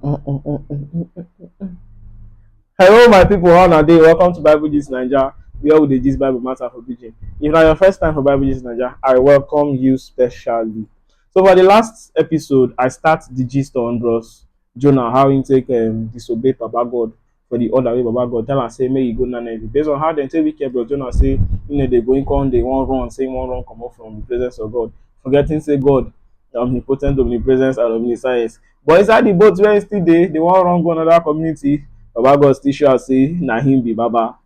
Hello, my people. How are they? Welcome to Bible Gist Nigeria, where we dey gist Bible matter for pidgin. If na your first time for Bible Gist Nigeria, I welcome you specially. So for the last episode, I start the gist on Bros Jonah how he take um, disobey Papa God for the order wey Baba God tell am say make he go Nineveh. Based on how dem take wicked bros Jonah say he no dey go, he come dey wan run say he wan run comot from the presence of God, forgetting say God na omnipotent, omnipresence and omniscience. But inside the boat where he still dey, they wan run go another community, Baba God still show am say na him be Baba.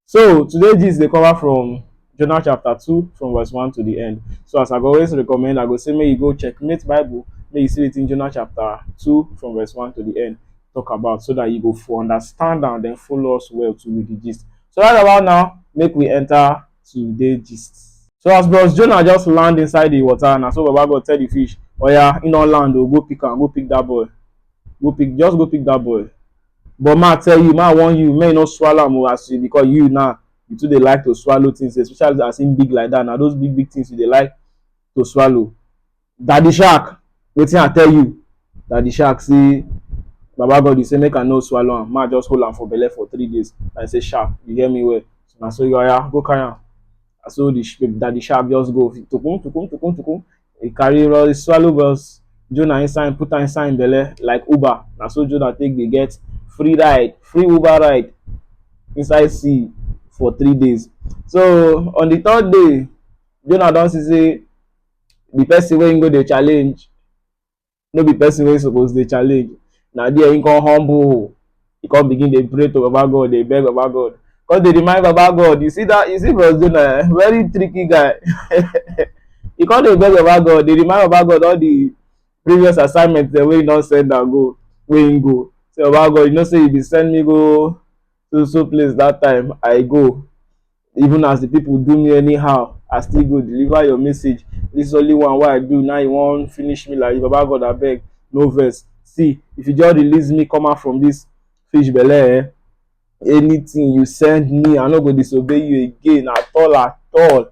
So today gist dey cover from Jonah chapter 2 from verse 1 to the end. So as I go always recommend, I go say make you go checkmate Bible, make you see wetin Jonah chapter 2 from verse 1 to the end talk about so that you go for understand and then follow us well to with the gist. So right about now, make we enter today gist. So as bros Jonah just land inside the water, na so Baba God tell the fish, oya, oh yeah, in all land, oh, go pick am, go pick that boy. Go pick, just go pick that boy. But ma tell you, ma warn you, make you no swallow am o as you because you now you too dey like to swallow things especially as im big like that na those big big things you dey like to swallow. Daddy Shark, wetin I tell you? Daddy Shark say Baba God you say make I no swallow am, ma just hold am for belle for three days. I say sharp, you hear me well. So na so you oya go carry am. Na so the sh- Daddy Shark just go tokum tokum tokum tokum. He carry Roy swallow bells, Jonah inside put am inside im belle like Uber. Na so Jonah take dey get free ride, free Uber ride inside sea for three days. So on the third day, Jonah don see say the person wey im go dey challenge no be person wey suppose dey challenge na there he come humble he come begin dey pray to baba god dey beg baba god come dey remind baba god you see that you see bros jonah eh very tricky guy he come dey beg baba god dey remind baba god all the previous assignment dem wey he don send am go wey he go say baba god you know say you bin send me go so so place that time i go even as the people do me anyhow i still go deliver your message this only one wey i do now you wan finish me like baba god abeg no vex see if you just release me come out from this fish belle eh anything you send me i no go disobey you again at all at all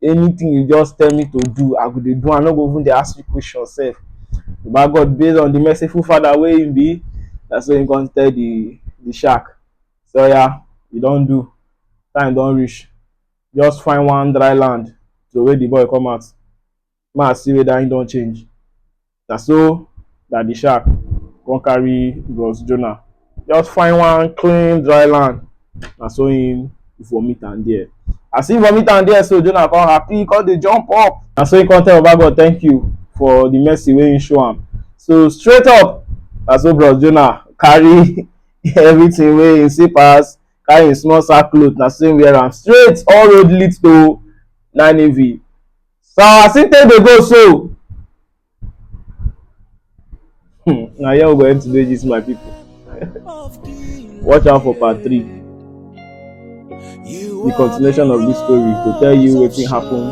anything you just tell me to do i go dey do i no go even dey ask you question sef baba god based on the merciful father wey him be na so him come tell the the shark say oya you don do time don reach just find one dry land throway the boy come out ma see whether he don change. Na so Daddy Shark come carry Bros Jonah just find one clean dry land. Na so he vomit am there. As he vomit am there so, Jonah come happy, he come dey jump up. Na so he come tell Baba God thank you for the mercy wey he show am. So straight up, na so Bros Jonah carry everything wey he see pass, carry him small sack cloth, na so he wear am straight all road lead to Nineveh. So as he take dey go so. Hmm, na here we go end today this my people. Watch out for part three. The continuation of this story to tell you wetin happen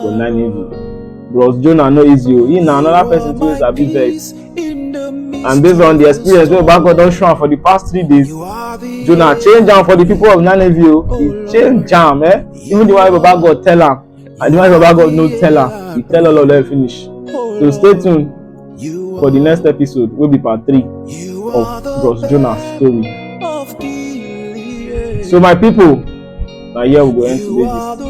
for Nineveh. Bros Jonah no easy o, he na another person too wey sabi vex. And based on the experience wey Baba God don show am for the past three days, Jonah change am for the people of Nineveh o. He change am eh, even the one wey Baba God tell am. And the man of God no tell am, he tell all of them finish. So stay tuned for the next episode, will be part three of Bros Jonas story. So my people, now here we go end today this.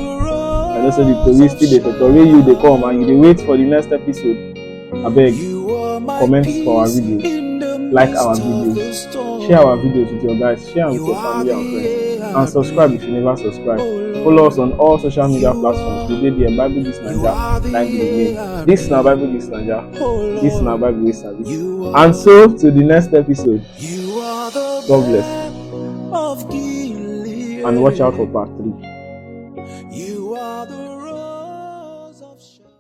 I know say the police still dey totori you dey come and you dey wait for the next episode. Abeg, comment for our videos, like our videos, share our videos with your guys, share them with your family and friends, and subscribe if you never subscribe. Follow us on all social media platforms. We did the Bible This Naija, like the name. This na Bible This Naija. This na Bible We Sabi. And so, to the next episode. God bless. And watch out for part 3.